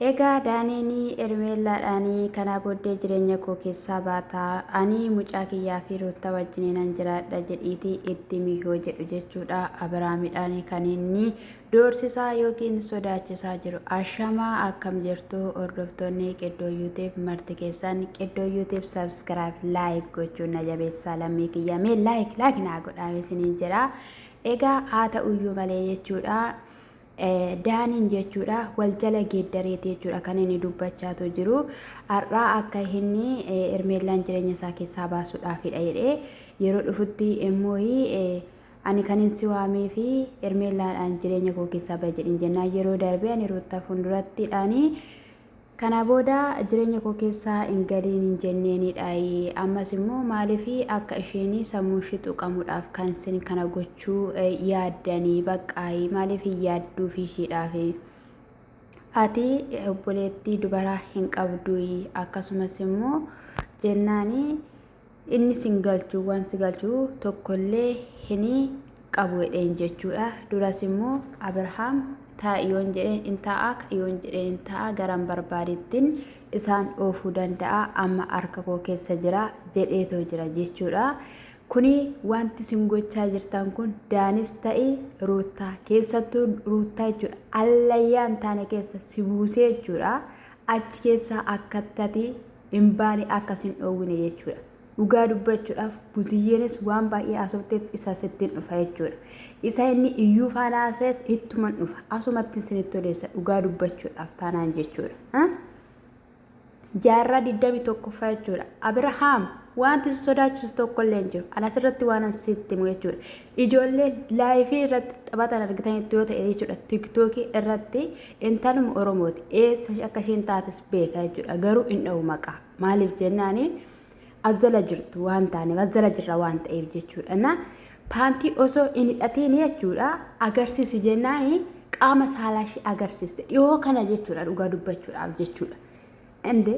Egaa Daaneenii Ermeellaadhaanii kanaa booddee jireenya koo keessaa baata, ani mucaa kiyyaa fi Ruutta wajjiniinan jiraadha jedhiiti itti himi yoo jedhu jechuudha Abiraamidhaanii kan inni doorsisaa yookiin sodaachisaa jiru. Ashama akkam jirtu hordoftoonni Qiddoo Yuutiib marti keessan Qiddoo Yuutiib sabskiraayib laayik gochuun na jabeessaa lammii kiyya mee laayik laayik naa godhaame isiniin jedha. Egaa haa ta'uyyuu malee jechuudha. Daaniin jechuudha wal jala geeddareeti jechuudha kan inni dubbachaatu jiru. Har'aa akka inni Hermeellaan jireenya isaa keessaa baasuudhaafidha jedhee yeroo dhufutti immoo ani kan hin si waamee fi Hermeellaadhaan jireenya koo keessaa bahe jedhin jennaan yeroo darbee ani ruuttaaf fuuldurattiidhaanii Kanaa booda jireenya koo keessa hin galiin hin jenneeni dhaayi. Ammas immoo maaliif akka isheen sammuun ishii xuqamudhaaf kan sin kana gochuu yaaddani baqqaayi maaliif hin yaadduufi ishiidhaafi. Ati obboleettii dubaraa hin qabduuyi akkasumas immoo jennaani Inni sin galchu waan si galchu tokkollee hin qabu jedheen jechuudha. Duras immoo Abrahaam taa'i yoon jedheen in taa'a, ka'i yoon jedheen in taa'a, garan barbaadettiin isaan oofuu danda'a, amma harka koo keessa jira jedheetoo jira jechuudha. Kuni wanti isin gochaa jirtan kun Daanis ta'i Ruuttaa keessattuu Ruuttaa jechuudha allayyaa hin taane keessa si buusee jechuudha. Achi keessaa akkatti ati hin baane akka sin dhoowwine jechuudha. Dhugaa dubbachuudhaaf Buziyyeenis waan baay'ee haasofteetti isa sittiin dhufa jechuudha. Isa inni iyyuu faana haasa'es ittuman dhufa. Asumatti isinitti odeessa dhugaa dubbachuudhaaf taanaan jechuudha. Jaarraa 21ffaa jechuudha. Abirahaam wanti si sodaachisu tokkollee hin jiru. Ana asirratti waan sitti himu jechuudha. Ijoollee laayifii irratti taphatan argitanitti yoo ta'e jechuudha tiktookii irratti intaluma oromooti eessa akka isheen taates beeka jechuudha garuu hin dha'u maqaa maaliif jennaani azzala jirtu waan taaneef azzala jirra waan ta'eef jechuudha na paantii osoo hin hidhatiin jechuudha agarsiisi jennaani qaama saalaa ishee agarsiiste dhiyoo kana jechuudha dhugaa dubbachuudhaaf jechuudha. Inde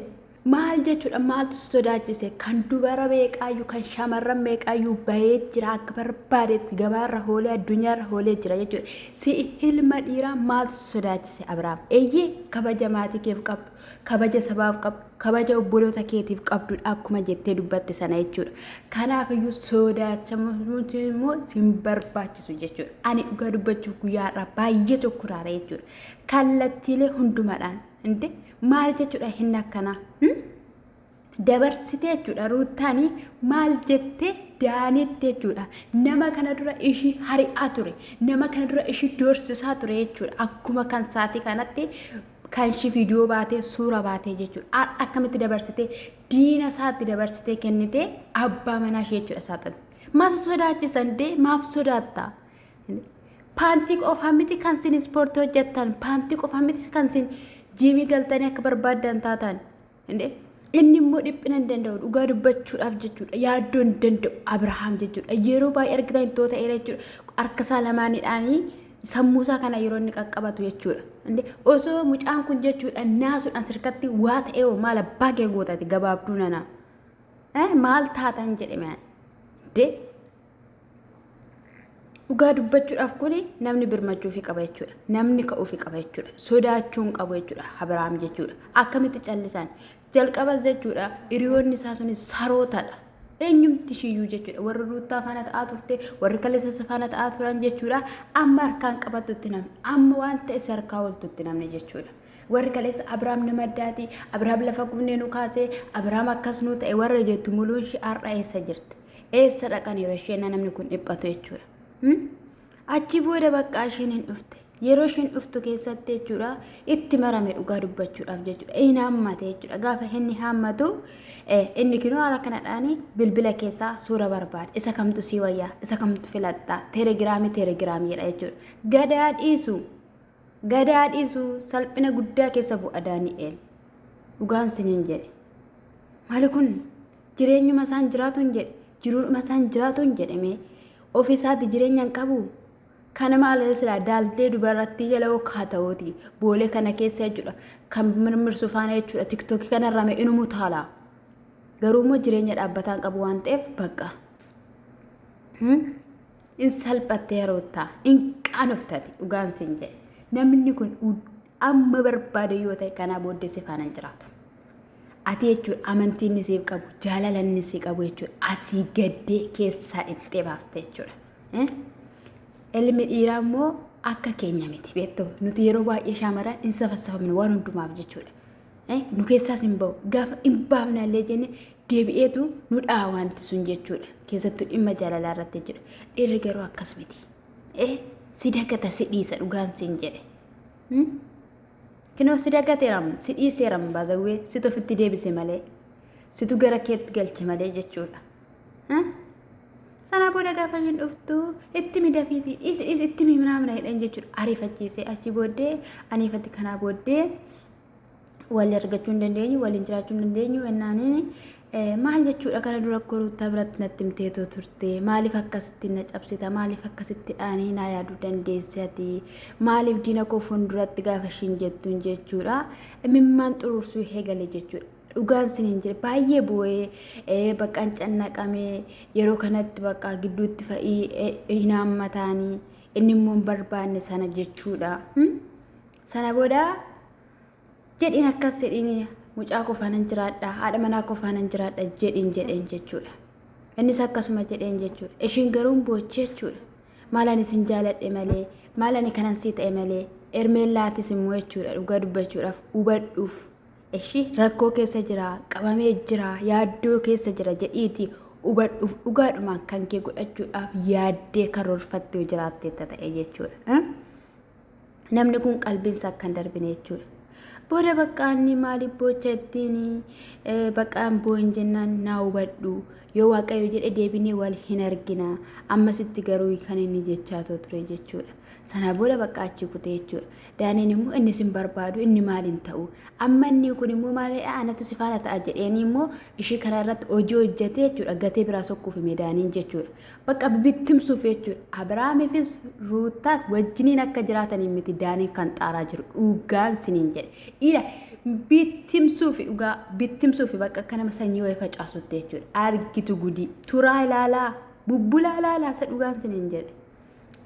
maal jechuudha maaltu si sodaachise kan dubara meeqaayyuu kan shamarran meeqaayyuu bahee jira akka barbaadetti gabaarra hoolee addunyaarra hoolee jira jechuudha si ilma dhiiraa maaltu si sodaachise Abiraam eeyyee kabaja maatii keef qabdu kabaja sabaaf qabdu kabaja obboloota keetiif qabdudha akkuma jettee dubbatte sana jechuudha kanaafiyyuu sodaachamuun immoo sin barbaachisu jechuudha ani dhugaa dubbachuuf guyyaa har'aa baay'ee tokko raara jechuudha kallattiilee hundumadhaan Inde maal jechuudha hin akkanaa? Hmm? Dabarsitee jechuudha ruuttaanii maal jettee daaniitti jechuudha. Nama kana dura ishii hari'aa ture. Nama kana dura ishii doorsisaa ture jechuudha. Akkuma kan saatii kanatti kan ishii viidiyoo baatee suura baatee jechuudha. Har'a akkamitti dabarsitee diina isaatti dabarsitee kennitee abbaa manaa ishee jechuudha saaxilti. Maal sodaachisan dee maaf sodaattaa? Paantii qofaa miti kan isin ispoortii hojjettan, paantii qofaa miti kan isin jiimii galtanii akka barbaaddan taatan. Inni immoo dhiphina hin danda'u dhugaa dubbachuudhaaf jechuudha. Yaaddoo hin danda'u Abirahaam jechuudha. Yeroo baay'ee argitan ittoo ta'eera jechuudha. Harka isaa lamaanidhaanii sammuu isaa kana yeroo inni qaqqabatu jechuudha. Osoo mucaan kun jechuudha naasuudhaan sirkatti waa ta'ee hoo maal abbaa kee gootati gabaabduu nanaa. Maal taatan jedhe maal. Dhugaa dubbachuudhaaf kun namni birmachuufi qaba jechuudha. Namni ka'uufi qaba jechuudha. Sodaachuun qabu jechuudha. Abiraam jechuudha. Akkamitti callisaan jalqabas jechuudha hiriyoonni isaa sunis sarootadha. Eenyumti shiyyuu jechuudha. Warri ruuttaa faana ta'aa turte, warri kalleessa faana ta'aa turan jechuudha. Amma harkaan qabattutti namni, amma waan ta'e si harkaa ooltutti namni jechuudha. Warri kaleessa Abiraam nama addaati, Abiraam lafa gubnee nu kaasee, Abiraam akkas nu ta'e warra jettu muluun ishee har'a eessa jirti? Eessa dhaqaniiru isheen namni kun dhiphatu jechuudha. Hmm? Achi booda bakka isheen hin dhufte. Yeroo isheen dhuftu keessatti jechuudha itti marame dhugaa dubbachuudhaaf jechuudha. Hin haammate jechuudha. Gaafa inni haammatu eh, inni kinoo haala kanadhaan bilbila keessaa suura barbaada. Isa kamtu sii wayyaa? Isa kamtu filatta? Teelegiraamii teelegiraamii jedha jechuudha. Gadaa dhiisu. Gadaa dhiisu salphina guddaa keessa bu'a Daani'eel. Dhugaan siniin jedhe. Maali kun? Jireenyuma isaan jiraatuun jedhe. Jiruudhuma isaan jiraatuun jedhe mee. Ofi isaati jireenya hin qabu. Kana maal silaa daaltee dubarrattii jala hokkaa ta'uuti. Boolee kana keessa jechuudha. Kan mirmirsu faana jechuudha. Tiktookii kanarraa mee inumu taala. Garuu immoo jireenya dhaabbataa hin qabu waan ta'eef bakka. In salphattee roottaa. In qaanoftati dhugaan siin jedhe. Namni kun Amma barbaade yoo ta'e kanaa booddee si faana hin jiraatu. Ati jechuudha amantii inni siif qabu, jaalala inni si qabu jechuudha asii gaddee keessaa dhiqxee baaste jechuudha. Eh? Ilmi dhiiraa immoo akka keenya miti beektu nuti yeroo baay'ee shaamaran hin safassafamne waan hundumaaf jechuudha. Eh, Nu keessaas hin bahu gaafa hin baafnaallee jenne deebi'eetu nu dha'a wanti sun jechuudha. Keessattuu dhimma jaalalaa irratti jechuudha. Dhiirri garuu akkas miti. Eh, Si dagata si dhiisa dhugaan siin jedhe. Kinoo si dagateeram si dhiiseeram baazawwee situ ofitti deebise malee situ gara keetti galche malee jechuudha. Sana booda gaafa hin dhuftu itti midafiiti itti miminaamina hidhan jechuudha ariifachiise achi booddee aniifatti kanaa booddee wal argachuu hin dandeenyu waliin jiraachuu hin dandeenyu ennaaniin maal jechuudha kana dura akka ruuttaa biratti natti himteetoo turte maaliif akkasitti na cabsita maaliif akkasitti dhaanii naa yaaduu dandeessi ati maaliif diina koo fuulduratti gaafa ishiin jettuun jechuudha mimmaan xuruursuu eegale jechuudha. Dhugaan sin hin jire baay'ee bu'ee baqqaan cannaqamee yeroo kanatti baqqaa gidduutti fa'ii hin haammataanii inni immoo hin barbaanne sana jechuudha. Sana booda jedhiin akkas jedhiin mucaa koo faanan jiraadha haadha manaa koo faanan jiraadha jedhiin jedheen jechuudha. Innis akkasuma jedheen jechuudha. Ishiin garuu hin boochee jechuudha. Maal ani sin jaaladhe malee maal ani kanan sii ta'e malee ermeellaatis immoo jechuudha dhugaa dubbachuudhaaf hubadhuuf. Ishii rakkoo keessa jira qabamee jira yaaddoo keessa jira jedhiiti hubadhuuf dhugaadhumaan kan kee godhachuudhaaf yaaddee karoorfattee jiraattee ta'e jechuudha. namni kun qalbiinsa akka hin darbine jechuudha. Booda bakka inni maaliif boocha ittiin baqqaan boo'in jennaan naa hubadhu yoo waaqayyo jedhe deebinee wal hin argina ammasitti garuu kan inni jechaa too ture jechuudha. Sana booda bakka achi kute jechuudha. Daaniin immoo inni sin barbaadu inni maal hin ta'u amma inni kun immoo maalidha anatu si faana ta'a jedheenii immoo ishii kana irratti hojii hojjetee jechuudha gatee biraa sokkuuf hime daaniin jechuudha. Bakka bibittimsuuf jechuudha. Abiraamiifis Ruuttaas wajjiniin akka jiraataniin miti Daaniin kan xaaraa jiru. Dhugaan siniin jedhe. Ila bittimsuufi dhugaa bittimsuufi bakka akka nama sanyii wayii facaasutti jechuudha. Argitu gudii. Turaa ilaalaa. Bubbulaa ilaalaa isa dhugaan siniin jedhe.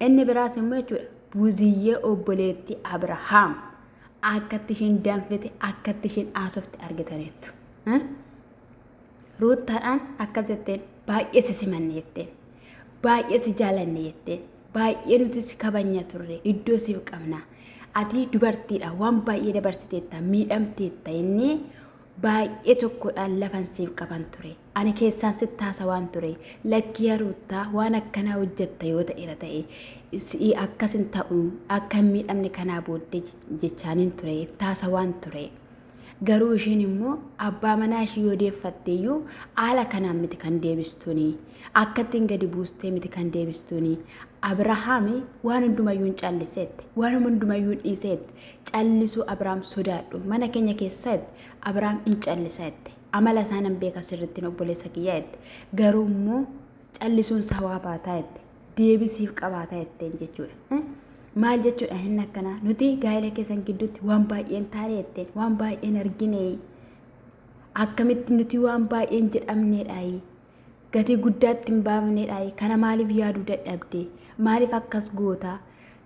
Inni biraas immoo jechuudha. Buziyyee obboleetti Abirahaam akkatti ishiin danfite akkatti ishiin haasofte argitaniittu. Ruuttaadhaan akkas jetteen baay'ee si simanne jetteen baay'ee si jaalanne jetteen baay'ee nuti si kabanya turre iddoo siif qabna ati dubartiidha waan baay'ee dabarsiteetta miidhamteetta jennee baay'ee tokkodhaan lafan siif qaban ture ani keessaan si taasa waan ture lakkii haruuttaa waan akkanaa hojjetta yoo ta'eera ta'e si'i akkas hin ta'u akka hin miidhamne kanaa booddee jechaaniin ture taasa waan ture. Garuu ishiin immoo abbaa manaa ishii yoo deeffatte iyyuu haala kanaan miti kan deebistuuni. Akkattiin gadi buustee miti kan deebistuuni. Abirahaami waan hundumayyuu hin calliseetti. Waan hundumayyuu hin dhiiseetti. Callisuu Abiraam sodaadhu. Mana keenya keessatti Abiraam hin calliseetti. Amala isaa nan beeka sirrittiin obboleessa kiyyaa jette. Garuu immoo callisuun isaa waa baataa jette. deebii siif qabaata jetteen jechuudha. Eh? Maal jechuudha hin akkanaa nuti gaa'ela keessan gidduutti waan baay'een taane jetteen waan baay'een argine akkamitti nuti waan baay'een jedhamneedhaayi gatii guddaatti hin baafneedhaayi kana maaliif yaaduu dadhabde maaliif akkas goota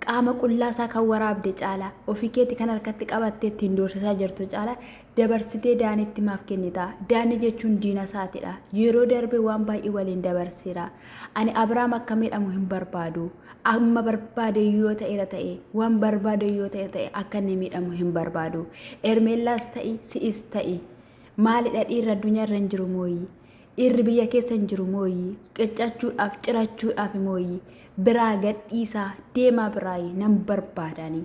Qaama qullaa isaa kan waraabde caalaa, ofii keeti kan harkatti qabattee ittiin doorsisaa jirtu caalaa dabarsitee Daanitti maaf kennita? Daani jechuun diina isaati dha. Yeroo darbe waan baay'ee waliin dabarseera. Ani Abrahaam akka miidhamu hin barbaadu. Amma barbaade yoo ta'eera ta'e, waan barbaade yoo ta'e ta'e akka inni miidhamu hin barbaadu. Ermeellaas ta'i, si'is ta'i. Maalidha dhiirri addunyaa irra hin jiru mooyyi? Dhiirri biyya keessa hin jiru mooyyi? Qircachuudhaaf, cirachuudhaaf mooyyi? Biraa gadhiisaa deemaa biraayi nan barbaadaani.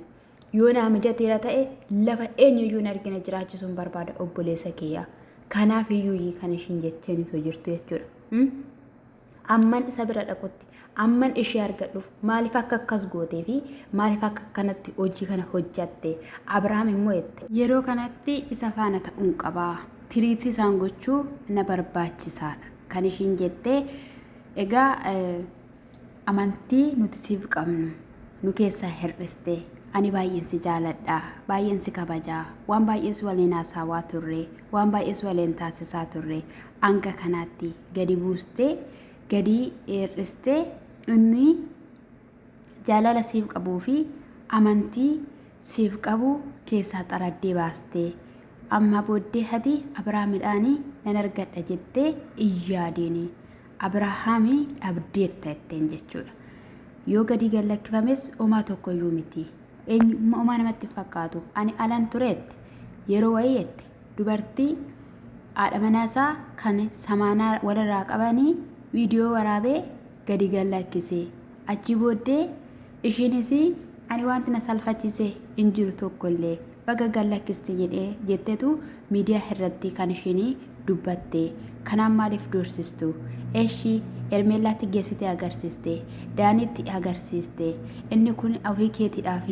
Yoo naa mijateera ta'e lafa eenyuyyuu hin argine jiraachisuun barbaada obboleessa kiyya. Kanaaf iyyuu kan ishiin jecheen osoo jirtu jechuudha. Amman isa bira dhaqutti, amman ishee argadhuuf maaliif akka akkas gootee fi maaliif akka akkanatti hojii kana hojjatte? Abrahaam immoo jette. Yeroo kanatti isa faana ta'uun qaba. Tiriitii isaan gochuu na barbaachisaadha. Kan ishiin jette egaa amantii nuti siif qabnu nu keessaa hir'iste ani baay'een si jaaladha baay'een si kabaja waan baay'een si waliin haasawaa turre waan baay'een si waliin taasisaa turre hanga kanaatti gadi buustee gadi hir'istee inni jaalala siif qabuu fi amantii siif qabu keessaa xaraddee baastee ammaa booddee hati Abiraamidhaanii nan argadha jettee iyyaadiini Abirahaamii dhabdeetta jetteen jechuudha. Yoo gadi gad lakkifames homaa tokko iyyuu miti. Eenyummaa homaa namatti hin fakkaatu. Ani alan tureetti yeroo wayii jette dubartii haadha manaa isaa kan samaanaa walirraa qabanii viidiyoo waraabee gadi gallakkise. Achii booddee ishiinis ani wanti na salfachiise hin jiru tokkollee baga gallakkiste jedhee jettetu miidiyaa irratti kan ishiin dubbatte. Kanaan maaliif doorsistu? Eshi Ermeellaatti geessitee agarsiiste. Daanitti agarsiiste. Inni kun ofii keetiidhaaf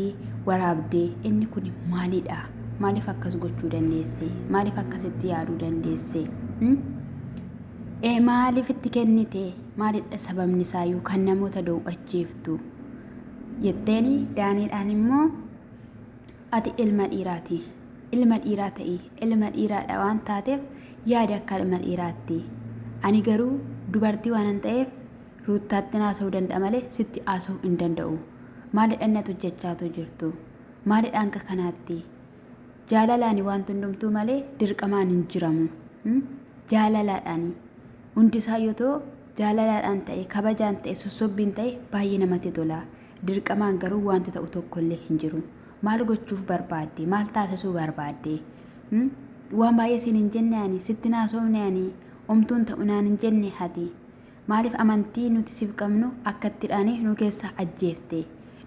waraabde. Inni kun maalidha? Maaliif akkas gochuu dandeesse? Maaliif akkasitti yaaduu dandeesse? Hmm? Ee maaliif itti kennite? Maalidha sababni isaa yoo kan namoota dow'achiiftu? Jetteeni daaniidhaan immoo ati ilma dhiiraati. Ilma dhiiraa ta'i. Ilma dhiiraadha waan taateef yaada akka ilma dhiiraatti. Ani garuu dubartii waanan ta'eef Ruuttaattin haasa'uu danda'a malee sitti haasa'uu hin danda'u. Maalidha inni atu jechaatu jirtu? Maalidha hanga kanaatti? Jaalalaani wanti hundumtuu malee dirqamaan hin jiramu. Hmm? Jaalalaadhaani. Hundi isaa yoo ta'u jaalalaadhaan ta'e, kabajaan ta'e, sossobbiin ta'e baay'ee namatti tola. Dirqamaan garuu wanti ta'u tokko illee hin jiru. Maal gochuuf barbaadde? Maal taasisuu barbaadde? Hmm? Waan baay'ee siin hin jenne ani, sitti hin haasofne ani, omtuun ta'u naan hin jenne ati. Maaliif amantii nuti siif qabnu akkatti dhaane nu keessaa ajjeefte?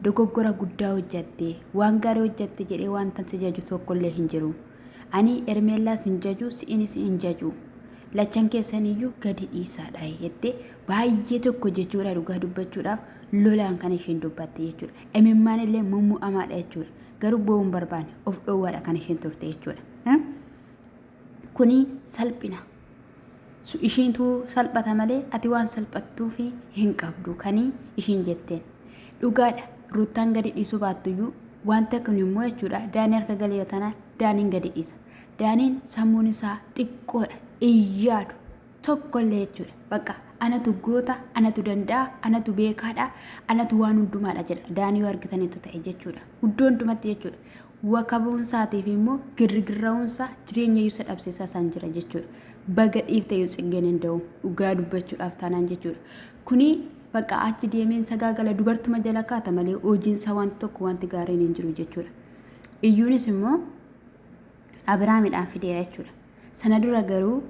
Dogoggora guddaa hojjatte. Waan gaarii hojjatte jedhee wantan si jaju tokkollee hin jiru. Ani Ermeellaas hin jaju, si'inis hin jaju. Lachan keessaniyyuu gadi dhiisaadha jettee baay'ee tokko jechuudha dhugaa dubbachuudhaaf lolaan kan isheen dubbatte jechuudha. Imimmaan illee mummu'amaadha jechuudha. Garuu bo'uu hin barbaanne of dhoowwaadha kan isheen turte jechuudha. Kuni salphina. Su- Ishiintu salphata malee ati waan salphattuufi hin qabdu kani ishiin jetteen. Dhugaadha Ruuttaan gadi dhiisuu baattuyyuu wanta kun immoo jechuudha Daanii harka galeera tanaan Daaniin gadi dhiisa. Daaniin sammuun isaa xiqqoodha hin yaadu tokkollee jechuudha. Bakka anatu goota, anatu danda'a, anatu beekaadha, anatu waan hundumaadha jedha. Daanii yoo argitanitu ta'e jechuudha. Iddoo hundumatti jechuudha. Wakabuunsaatiif immoo girrigirra'uunsaa jireenyayyuu isa dhabsiisaa isaan jira jechuudha. Baga dhiifteyyuu tsiggeen inda'u dhugaa dubbachuudhaaf taanaan jechuudha. Kuni bakka achi deemeen sagaagala dubartuma jala kaata malee hojiinsaa wanti tokko wanti gaariin hin jiru jechuudha. Iyyuunis immoo Abiraamidhaan fideera jechuudha. Sana dura garuu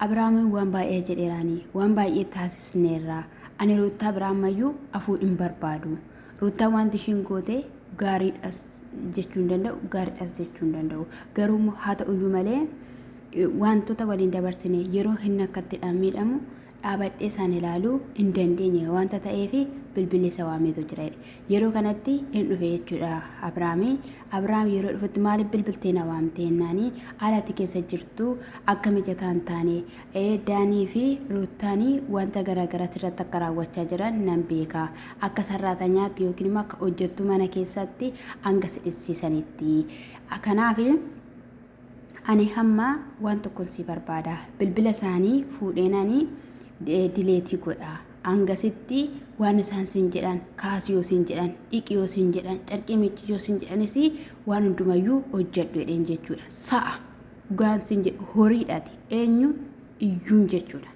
Abrahaamiin waan baay'ee jedheeraanii, waan baay'ee taasisneerraa, ani Ruuttaa biraa ammayyuu afuu hin barbaadu. Ruuttaa wanti ishiin goote gaariidhas jechuu hin danda'u, gaariidhas jechuu hin danda'u. Garuu immoo haa ta'uyyuu malee wantoota waliin dabarsine yeroo hin akkatti miidhamu dhaabadhee isaan ilaaluu hin dandeenye wanta ta'eef bilbilli isa waameetu jira jedhe. Yeroo kanatti hin dhufe jechuudha Abrahaami. Abrahaam yeroo dhufutti maaliif bilbiltee na waamtee jennaani haalati keessa jirtu akka mijataa hin taane ee Daanii fi Ruuttaanii wanta garaagaraa sirratti akka raawwachaa jiran nan beeka. Akka sarraatanyaatti yookiin immoo akka hojjettuu mana keessatti hanga si dhissisanitti. Kanaaf ani hamma waan tokkon si barbaada bilbila isaanii fuudheen ani dileetii godha hangasitti waan isaan siin jedhan kaasi yoo siin jedhan dhiqi yoo siin jedhan carqii miicci yoo siin jedhanis waan hundumayyuu hojjedhu jedheen jechuudha sa'a dhugaan siin jedhu horiidhaati eenyu iyyuun jechuudha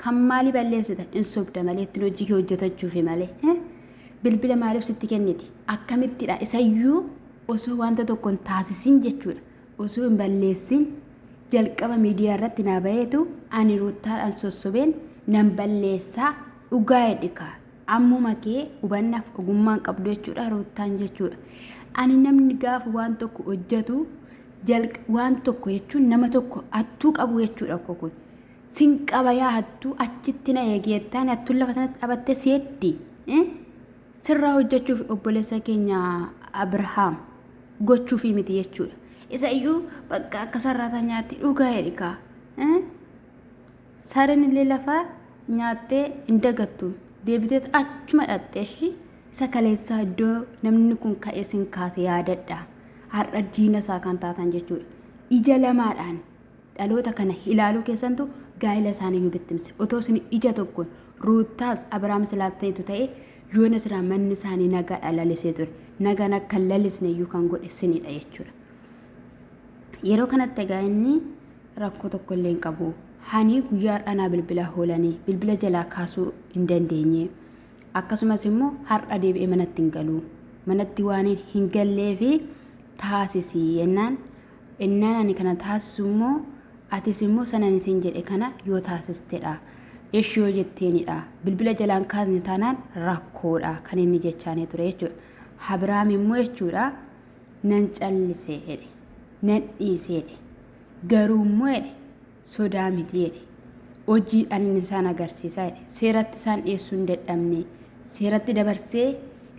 kan maalii balleessitan in sobda malee ittiin hojii kee hojjetachuufi malee bilbila maaliif sitti kenniti akkamittidha isayyuu osoo wanta tokko hin taasisin jechuudha osoo hin balleessin jalqaba miidiyaa irratti naa baheetu ani ruuttaadhaan sossobeen nan balleessaa dhugaa hedhikaa ammuma kee hubannaaf ogummaan qabdu jechuudha ruuttaan jechuudha ani namni gaafa waan tokko hojjetu jalq- waan tokko jechuun nama tokko hattuu qabu jechuudha koo kun sin qabayaa hattuu achitti na eegeettaan hattuun lafa sanatti dhabattee seetti eh? Sirraa hojjechuuf obboleessa keenya Abrahaam gochuufii miti jechuudha. Isa iyyuu bakka akka sarraataa nyaatti dhugaa jedhikaa. Sareen illee lafaa nyaattee hin dagattu. Deebitee achuma dhaxxee ishii isa kaleessaa iddoo namni kun ka'ee sin kaase yaadadha. Har'a diina isaa kan taatan jechuudha. Ija lamaadhaan Dhaloota kana ilaaluu keessantu gaa'ila isaanii nu bittimse. Otoo isin ija tokkoon Ruuttaas Abraamis laaltaniitu ta'ee yoona silaa manni isaanii nagaadhaan lalisee ture. Nagaan akka hin lalisne iyyuu kan godhe isinidha jechuudha. Yeroo kanatti egaa inni rakkoo tokko illee hin qabu. Hanii guyyaa har'aa naa bilbila hoolanii bilbila jalaa kaasuu hin dandeenye. Akkasumas immoo har'a deebi'ee manatti hin galu. Manatti waan hin gallee fi taasisi jennaan Ennaan ani kana taasisu immoo atis immoo sana ani siin jedhe kana yoo taasistedha. Eshi yoo jetteenidha. Bilbila jalaan kaasne taanaan rakkoodha kan inni jechaanii ture jechuudha. Habiraam immoo jechuudha nan callisee jedhe. Nan dhiisee jedhe. Garuu immoo jedhe. sodaa miti jedhe. Hojiidhaan inni isaan agarsiisa jedhe. Seeratti isaan dhiyeessuu hin dadhabne. Seeratti dabarsee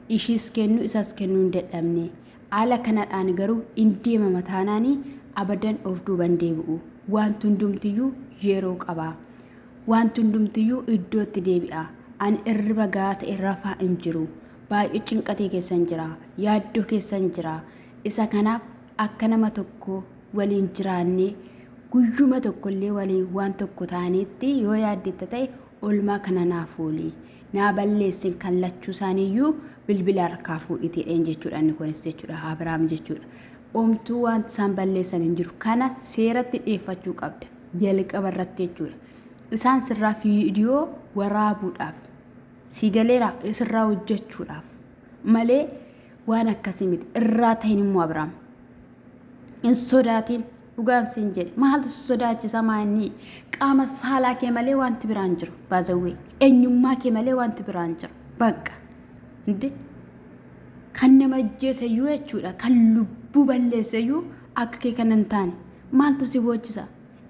ishiis kennuu isaas kennuu hin dadhabne. Haala kanadhaan garuu in deemama taanaanii abadan of duuban deebi'u. Wanti hundumtiyyuu yeroo qaba. Wanti hundumtiyyuu iddootti deebi'a. Ani irriba gahaa ta'e rafaa hin jiru. Baay'ee cinqatee keessan jira. Yaaddoo keessan jira. Isa kanaaf akka nama tokkoo waliin jiraannee guyyuma tokkollee waliin waan tokko taaneetti yoo yaaddetta ta'e olmaa kana naa fooli naa balleessin kan lachuu isaaniiyyuu bilbila harkaa fuudhitiidheen jechuudha inni kunis jechuudha Abiraam jechuudha. Omtuu waan isaan balleessan hin jiru kana seeratti dhiyeeffachuu qabda jalqaba irratti jechuudha. Isaan sirraa viidiyoo waraabuudhaaf si galeera sirraa hojjechuudhaaf malee waan akkasii miti irraa ta'in immoo Abiraam. hin sodaatiin dhugaan siin jedhe maaltu si sodaachisa maa inni qaama saalaa kee malee wanti biraan jiru baazawwee eenyummaa kee malee wanti biraan jiru bakka inde kan nama ajjeesayyuu jechuudha kan lubbuu balleessayyuu akka kee kan hin taane maaltu si boochisa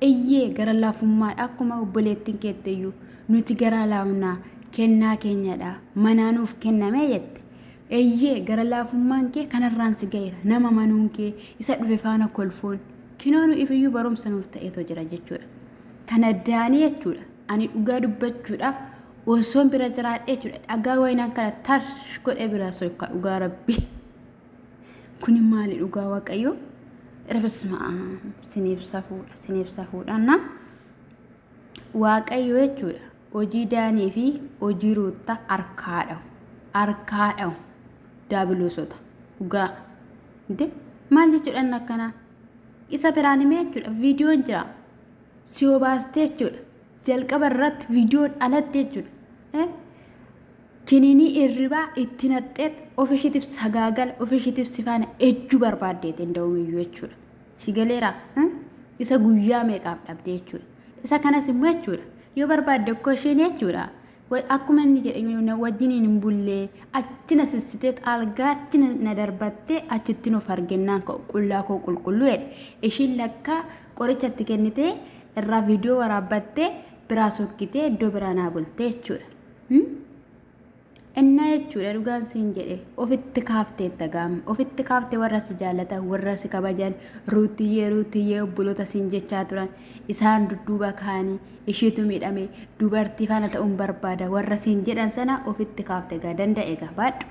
eyyee gara laafummaa akkuma obboleettiin keetteyyuu nuti garaa laafnaa kennaa keenyadha manaa nuuf kennamee jette Eeyyee, gara laafummaan kee kanarraan si ga'eera. Nama amanuun kee, isa dhufe faana kolfuun, kinoo nu ifiyyuu barumsa nuuf ta'eetoo jira jechuudha. Kana daanii jechuudha. Ani dhugaa dubbachuudhaaf osoon bira jiraadhee jechuudha. Dhagaa wayinaan kana tarsh godhee biraa soyka dhugaa rabbii. Kuni maali dhugaa waaqayyoo? Rabisma siniif safuudha, siniif safuudha. Na waaqayyo jechuudha. Hojii Daanii fi hojii Ruutta harkaa dhahu. Harkaa dhahu. Daabiloosota. Dhugaa. Inte maal jechuudhaan akkanaa? Isa biraan himee jechuudha. Viidiyoon jira. Si obaastee jechuudha. Jalqaba irratti viidiyoon alatti jechuudha. Kiniinii irribaa itti naqxeet ofishiitiif sagaagala ofishiitiif sifaana ejjuu barbaaddeet hin da'umiyyuu jechuudha. Si galeera isa guyyaa meeqaaf dhabde jechuudha. Isa kanas immoo jechuudha yoo barbaadde koo isheen jechuudha. Akkuma inni jedhe wajjin hin bullee achi na sissitee algaa achi na darbattee achitti nuuf arginnaan qullaa koo qulqulluu jedhe. Ishiin lakkaa qoricha itti kennitee irraa viidiyoo waraabbattee biraa sokkitee iddoo biraa naa bultee jechuudha. Innaa jechuudha dhugaan siin jedhe ofitti kaafteetta gaam ofitti kaafte warra si jaallatan warra si kabajan ruutiyyee ruutiyyee obboloota siin jechaa turan isaan dudduuba kaanii ishiitu miidhame dubartii faana ta'uun barbaada warra siin jedhan sana ofitti kaafte gaa danda'e gaa baadhu.